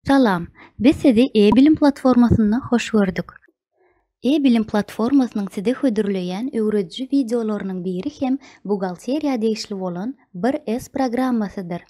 Salam! Biz sizi E-bilim platformasynda hoş gördük. E-bilim platformasynyň size hödürleýän öwrediji wideolarynyň biri hem buhgalteriýa degişli bolan Bir-S programmasydyr.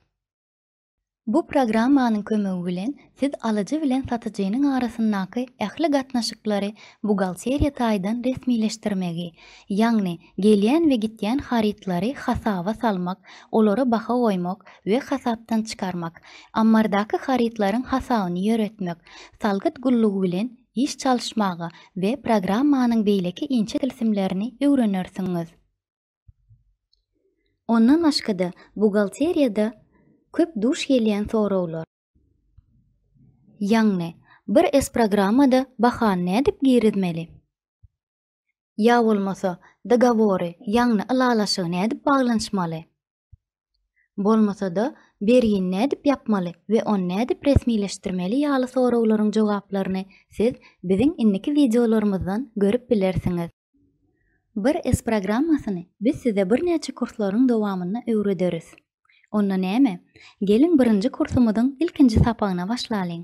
Bu programmanyň kömegi bilen siz alyjy bilen satyjynyň arasyndaky ähli gatnaşyklary buhgalteriýa taýdan resmileşdirmegi, ýagny gelýän we gitýän harytlary hasaba salmak, olara baha goýmak we hasapdan çykarmak, ammardaky harytlaryň hasabyny ýöretmek, salgyt gullugy bilen iş çalyşmaga we programmanyň beýleki inçe tilsimlerini öwrenersiňiz. Ondan başga-da, buhgalteriýada köp duş gelýän soraglar. Ýagny, bir sprogrammada bahany nädip girizmeli? Ýa bolmasa, dogowory, ýagny ylalaşygy nädip baglanyşmaly? Bolmasa-da, bergini nädip ýapmaly we ony nädip resmileşdirmeli ýaly soraglaryň jogaplaryny siz biziň indiki wideolarymyzdan görüp bilersiňiz. Bir S programmasyny biz size birnäçe kurslaryň dowamynda öwrederis. Onda näme, geliň birinji kursumyzyň ilkinji sapagyna başlalyň.